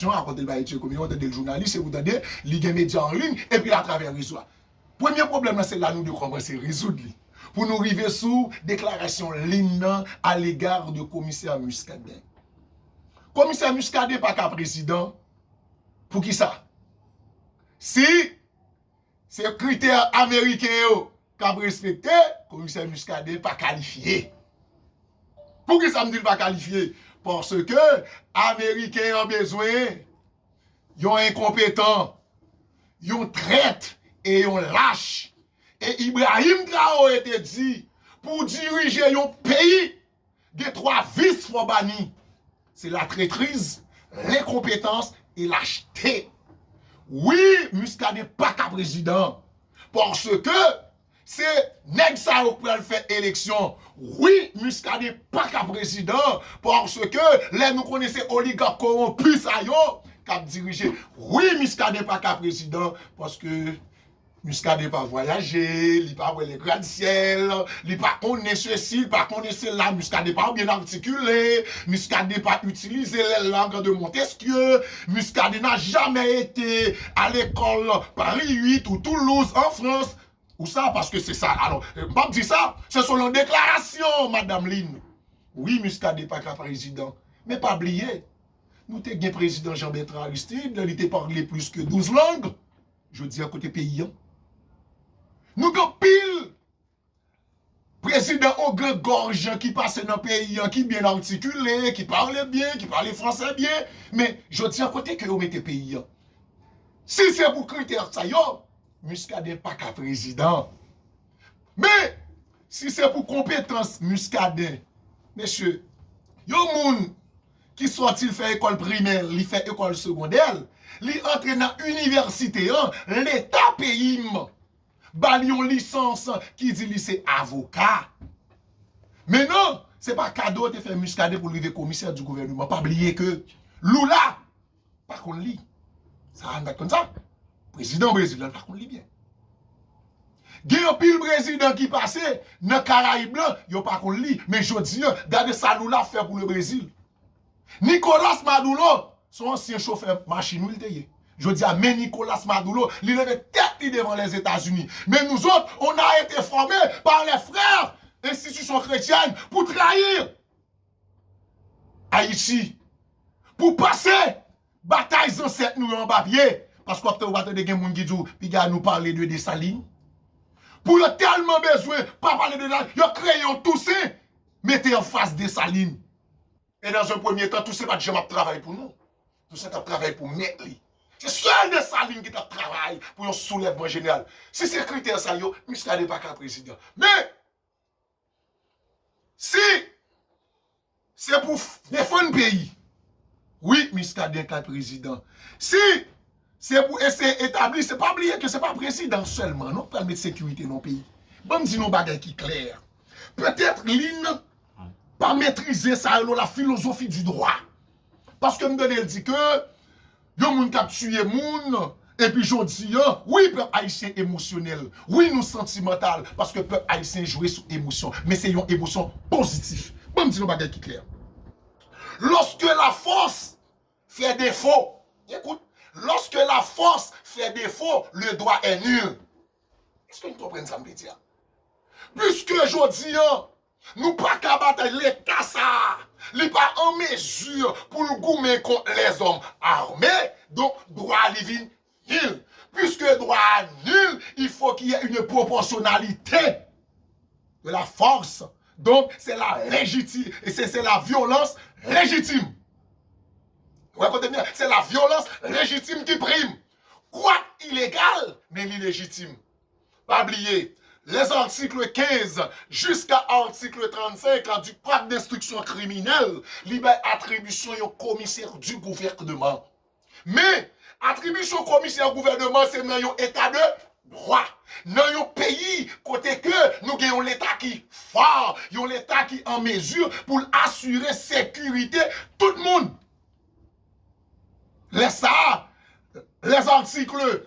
Yon rapòte l bay Etzer Comero, tande l jounalis epi w tande li gen medya an liy epi atravè rezo a. Premye pwoblèm lan se la nou dwe kòmanse rezoud li pou nou rive sou deklarasyon Lynn nan a lega de komisè Muscadin. Komisè Muscadin pa ka prezidan pou kisa? Si se kritè ameriken yo kap respekte komisè Muscadin pa kalifye poukisa m di l pa kalifye paske ameriken an bezwen yon enkonpetan yon trèt e yon lach e Ibrahim Traore te di pou dirije yon peyi Gen 3 vis fò bani. Se la tretriz, lenkonpetans e lachte. Wi Muscadin pa ka prezidan. Paske se nèg sa yo k pral fè eleksyon. Wi Muscadin pa ka prezidan. Paske lè nou konnen se oligak koronpi sa yo k ap dirije. Wi Muscadin pa ka prezidan. Paske Muscadin pa vwayaje, li pa wè le grad syèl, li pa konnen sesi, li pa konnen sela, Muscadin pa byen artikile, Muscadin pa itilize le lang de Montesquieu, Muscadin na jamè ete a lekòl Pari 8 ou Toulouz an Frans, ou sa paske se sa, alò, m pap di sa, se selon deklarasyon madam Lynn, wi Muscadin pa ka prezidan, men pa bliye, nou te gen prezidan Jean Bertrand Aristide, li te parle plis ke 12 lang. Jodi a kote peyi an? Nou gen pil prezidan ogren gòj ki pase nan peyi an ki byen artikile, ki pale byen, ki pale franse byen, men jodi a kote ke yo mete peyi an? Si se pou kritè sa yo, Muscadin pa ka prezidan. Men, si se pou konpetans Muscadin, mesye, yon moun ki sòti l fè ekòl primè l, li fè ekòl segondè l, li antre nan inivèsite an, leta peyi m ba l yon lisans ki di li se avoka. Men non, se pa kado te fè Muscadin pou l rive komisè di gouvèneman. Pa bliye ke Lula. pa konn li sa a nou pat konn sa prezidan brezil la nou pa konn li byen gen yon pil prezidan ki pase nan karayib la yo pa konn li men jodi an gade sa lula ap fè pou le brezil nikolas madulo son ansyen chofè machin wi li te ye jodi a men nikolas madulo li leve tèt li devan lèzetazini men nou zòt on a ete fòme pa lè frè enstitisyon kretyèn pou trayir Ayiti pou pase batay zansèt nou yo anba pye paske wap tande ou pa tande gen moun ki di w piga nou pale de Dessalines pou yo tèlman bezwen pa pale de Dessalines yo kreye yon Toussaint mete anfas Dessalines e nan un premye tan Toussaint pat janm ap travay pou nou Toussaint tap travay pou mèt li se sèl Dessalines ki tap travay pou yon soulèvman jeneral si se kritè sa yo Muscadin paka prezidan men Si Se pou defann peyi wi Muscadin ka prezidan si Se pou eseye etabli se pa bliye ke se pa prezidan selman non ki pral met sekirite nan peyi banm di nou yon bagay ki klè petèt li nan pa metrize sa rele la filozofi di dwa paske m tande l di ke Yon moun kap tiye moun epi jodi an wi pèp ayisyen emosyonèl wi nou santimantal paske pèp ayisyen jwe sou emosyon men se yon emosyon pozitif banm di nou bagay ki klè lòske lafòs fè defo gen kout lòske lafòs fè defo le dwa è nul èske nou konprann sa m vle di a piske jodi an Nou paka batay leta sa a li pa an mezi pou l goumen kont lèzòm ame donk dwa li vin nil piske dwa a nil il fo ki yè une proportionnalité de la force donk se la lejiti se se la vyolans lejitim ou wè kote m ye a se la vyolans lejitim ki prim kwak ilegal men li lejitim. Pa bliye, les articles 15 jiska article 35 du code d'instruction criminelle, li bay atribisyon yon komisè du gouvèneman. Men, atribisyon komisè gouvèneman se nan yon eta de dwa, nan yon peyi kote ke nou gen yon leta ki fò, yon leta ki an mezi pou l asire sekirite tout moun. Lè sa a, les articles.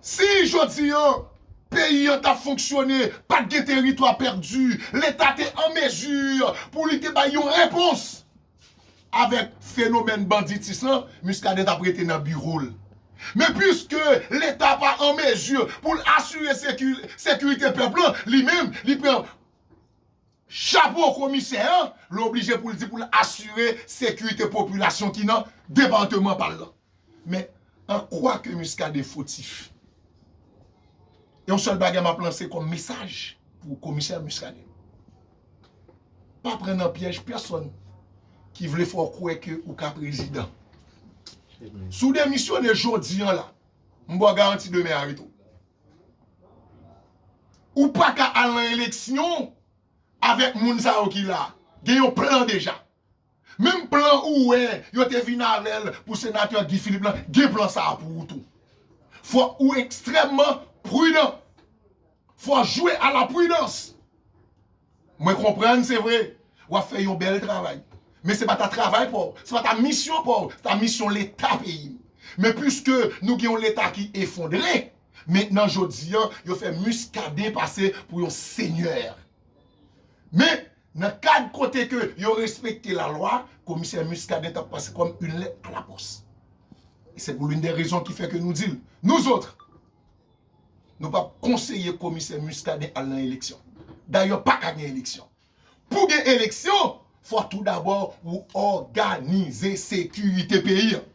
Si jodi an peyi an t ap fonksyone, pa t gen teritwa pèdi, Leta te an mezi pou li te bay yon repons avèk fenomèn banditis lan, Muscadin t ap rete nan biwo l. Men piske Leta pa an mezi pou l asire sekirite pèp lan, li menm li pran chapo komisè an, li oblije pou l di pou l asire sekirite popilasyon ki nan depateman pa l lan. Men, an kwa ke Muscadin fotif? Yon sèl bagay m ap lanse kòm mesaj pou komisè Muscadin. Pa pran nan pyèj pèsòn ki vle fè w kwè ke ou ka prezidan. Si w demisyone jodi an la, m ba w garanti demen y a rete w. Ou pa ka al nan eleksyon avèk moun sa yo ki la. Gen yon plan deja. Menm plan ou wè yo te vin avèl pou senatè Guy Philippe lan gen plan sa a pou ou tou. Fòk ou ekstrèmman pridan. Fò jwe a la pridans. Mwen konprann se vre w ap fè yon bèl travay. Men se pa ta travay pa w. Se pa ta misyon pa w. Se ta misyon leta peyi. Men piske nou gen yon leta ki efondre. Men nan jodi an yo fè Muscadin pase pou yon senyè. Men. Nan kad kote ke yo respekte la lwa, komisè Muscadin tap pase kòm une lettre à la poste. Et c'est pour l'une des raisons qui fait que nous dil, nous autres, nou pap konseye komisè Muscadin al nan eleksyon. Dayè pa ka gen eleksyon. Pou gen eleksyon, fò tou dabò ou òganize sekirite peyi an.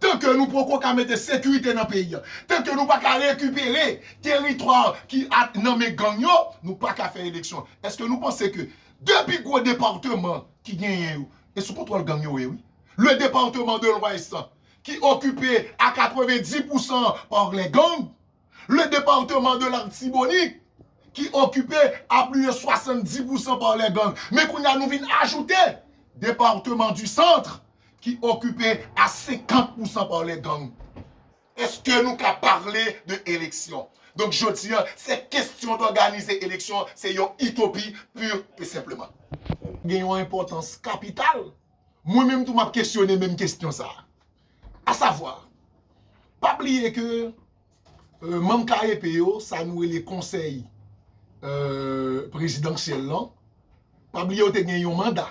Tan ke nou poko ka mete sekirite nan peyi an, tan ke nou pa ka rekipere teritwa ki at nan men gang yo, nou pa ka fè eleksyon. Eske nou panse ke 2 pi gwo departeman ki genyen yo, e sou kontwòl gang yo ye wi. Le departement de l'Ouest ki okipe a 90 pousan par les gangs, Le departement de l'Artibonite ki okipe a plus de 70 pou san par les gangs. Men kounye a nou vin ajoute departement du Centre ki okipe a 50 pou san par les gangs. Eske nou ka pale de eleksyon? Donk jodi a, se kestyon d'organize eleksyon se yon itopi pur et simplement. Gen yon enpòtans kapital. Mwen menm tou m'ap kesyone menm kestyon sa. A savwa, pa bliye ke manm KEP yo, sa nou rele konsèy prezidansyèl lan, pa bliye yo te gen yon manda.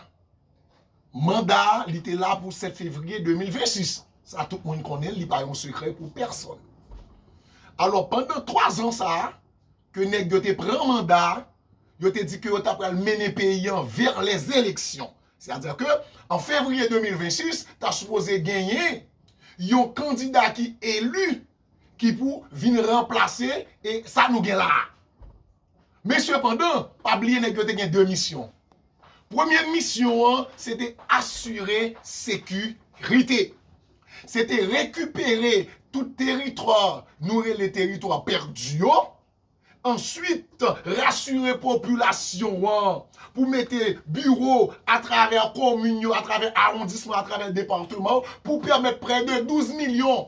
Manda a, li te la pou 7 fevriye 2026. Sa tout moun konnen, li pa yon sekrè pou pèsòn. Alò, pandan 3 zan sa a, Ke nèg yo te pran manda a, yo te di ke yo ta pral mennen peyi an vè les eleksyon. Se a di ke an fevriye 2026, ta sipoze genyen yon kandida ki eli ki pou vin ranplase e sa nou gen la a. Men sepandan, pa bliye nèg yo te gen 2 misyon. Premye misyon an se te asire seku rite. Se te rekipere tout teritwa nou rele teritwa pèdi yo. Answit, rasire popilasyon an pou mete biwo atravè komin yo, atravè awondisman, atravè departeman pou pèmèt prè de 12 milyon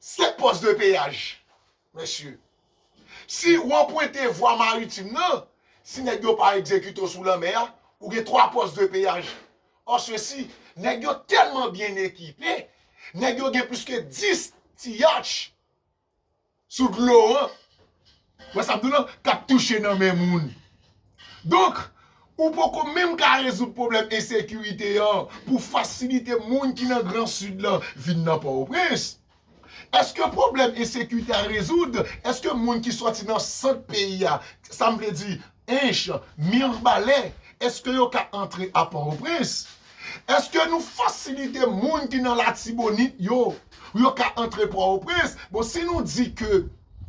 Se post de peyaj mesye. Si ou anpwente vwa maritim nan, si nèg yo pa egzekite w sou lanmè a, ou gen 3 post de peyaj. An sesi, nèg yo tèlman byen ekipe, nèg yo gen plis ke 10 ti yatch sou dlo an. Wè sa m di w lan? K ap touche nan men moun. Donk, ou poko menm ka rezoud pwoblèm ensekirite an pou w fasilite moun ki nan gran Sid lan vin nan Pòtoprens. Èske pwoblèm ensekirite a rezoud? Èske moun ki soti nan sant peyi a, sa m vle di, Ench, Mirbalè, eske yo ka antre a Pòtoprens? Eske nou fasilite moun ki nan Latibonit yo pou yo ka antre Pòtoprens? Bon, si nou di ke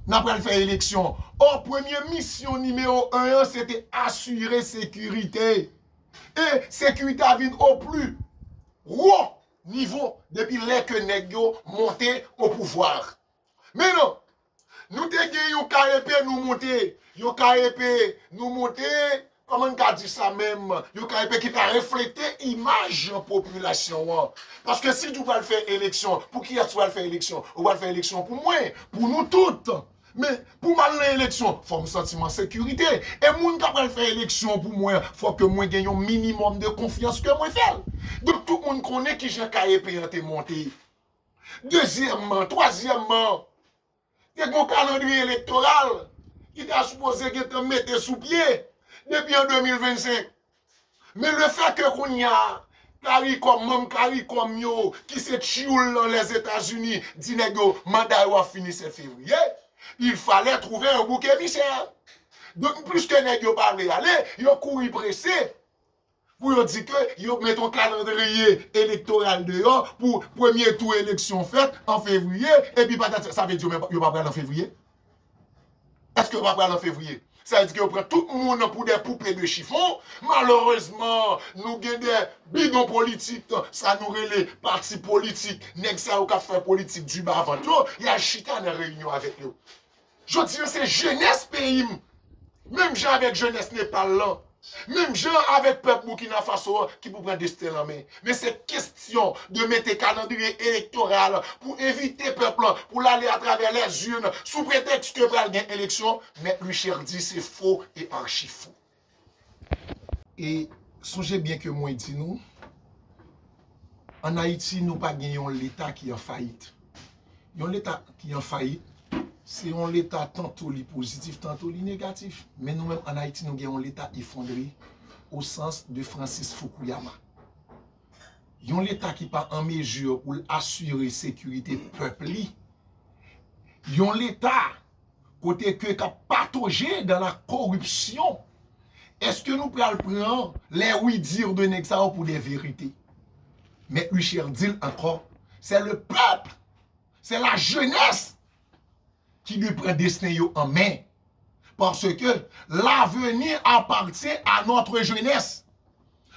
n ap pral fè eleksyon, ò premye misyon nimewo 1 an se te asire sekirite. E sekirite a vin o pli wo nivo depi lè ke nèg yo monte o pouvwa. Men non! Nou te gen yon ka epe nou monte, yon ka epe nou monte, kòman n ka di sa menm, yon ka epe ki pa reflete imaj popilasyon an. Paske si di w pral fè eleksyon, pou kiyès ou pral fè eleksyon? Ou pral fè eleksyon pou mwen, pou nou tout. Men, pou m al nan eleksyon, fò m santi m an sekirite. E moun k ap pral fè eleksyon pou mwen an, fò ke mwen gen yon minimòm de konfyans ke mwen fè l. Donk tout moun konnen kijan ka epe an te monte. Dezyèmman, twazyèmman, te gen yon kalandriye elektoral ki ta sipoze gentan mete sou pye depi an 2025. Men le fè ke kounya caricom, manm caricom yo ki se tchyoul lan Lèzetazini di nèg yo manda yo ap fini 7 fevriye, il falè twouve yon bouk emisè. Donk pliske nèg yo pa vle ale, yo kouri prese. pou yo di ke yo met yon kalandriye elektoral deyò pou premye tou eleksyon fèt an fevriye epi patati sa vle di yo pa pral an fevriye? Eske yo pa pral an fevriye? Sa vle di ke yo pran tout moun pou dè poupe de chifon, malerezman nou gen dè bidon politik sa nou rele pati politik nèg sa yo kap fè politik du bas ventre yo yal chita nan reyinyon avèk yo. Jodi an se jenès peyi m, menm jan avèk jenès Nepal lan, menm jan avèk pèp Boukina Faso an ki pou pran desten l an men. Men se kestyon de mete kalandriye elektoral pou envite pèp lan pou l ale atravè lèzurn sou pretèks ke pral gen eleksyon, Mèt Luichert di se fo e archi fo. E sonje byen ke mwen di nou, an Ayiti nou pa gen yon leta ki an fayit. Yon leta ki an fayit, se yon leta tanto li pozitif, tanto li negatif. Men nou menm an Ayiti nou gen yon leta efondre o sans de Francis Fukuyama. Yon leta ki pa an mezi pou l asire sekirite pèp li. Yon leta Kote ke kap patoje dan la koripsyon. Eske nou pral pran lè wi dir de nèg sa yo pou de verite. Mèt Luchère di l ankò, se le pèp, se la jenès ki dwe pran desten yo an men. Parce ke laveni apatyen a notre jenès.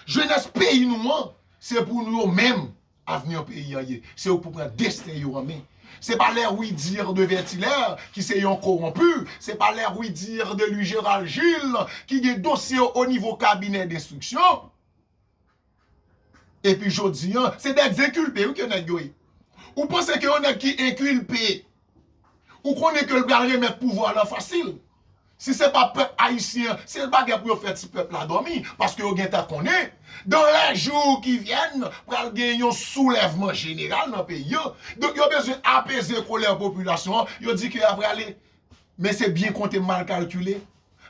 Jenès peyi nou an, se pou nou yo menm Avenir peyi an ye. Se yo k pou pran desten yo an men. Se pa lè oui dire de Vertilaire ki se yon koronpu, se pa lè oui dire de lui Gerald Gilles ki gen dosye yo o nivo kabinè denstriksyon. E pi jodi an, se dè ekzekilpe wi ke nèg yo ye. Ou panse ke yon nèg ki enkilpe. Ou konnen ke l pral remèt pouvwa lan fasil. Si se pa pèp ayisyen an, se pa gen pou yo fè ti pèp la dòmi, paske yo gen tan konnen, dan lè jou ki vyèn, pral gen yon soulèvman jeneral nan peyi an. Donk yo bezwen apeze kolè popilasyon an, yo di ke y ap rale. Men se byen konte mal kalkile.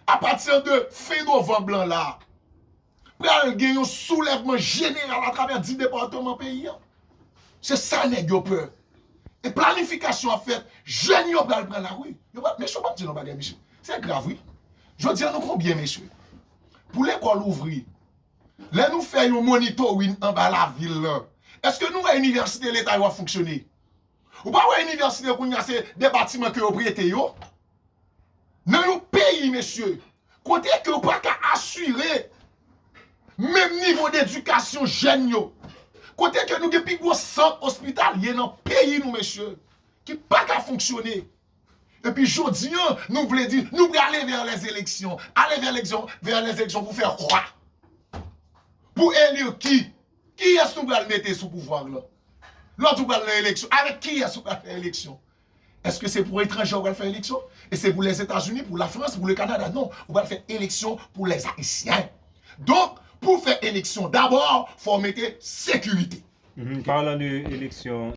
A pati de fen novanb lan la, pral gen yon soulèvman jeneral atravè di depatman peyi an. Se sa nèg yo pè. E planifikasyon ap fèt, jèn yo pral pran lari. Mesye ou pa di yon bagay mesye. Se grav wi. Jodi an nou konbyen mesye? Pou lekòl ouvri, lè nou fè yon monitorin anba lavil lan, eske nou wè inivèsite leta yo ap fonksyone? Ou pa wè inivèsite kounye a se de batiman ke yo prete yo? Nan yon peyi mesye, kote ke ou pa ka asire menm nivo d'edikasyon jèn yo, kote ke nou gen pi gwo sant ospitalye nan peyi nou mesye, ki pa ka fonksyone, epi jodi an nou vle di nou vle ale vè lè zeleksyon, ale vè lè zeleksyon pou fè kwa? Pou eli ki? Kiyès nou pral mete sou pouvwa la? Lò tou pral nan eleksyon, avèk kiyès ou pral fè eleksyon? Eske se pou etranje ou pral fè eleksyon? E se pou Lèzetazini, pou Lafrans, pou Lekanada? Non, ou pral fè eleksyon pou Lèzayisyen. Donk, pou fè eleksyon dabò, fò w mete sekirite. Palan de eleksyon.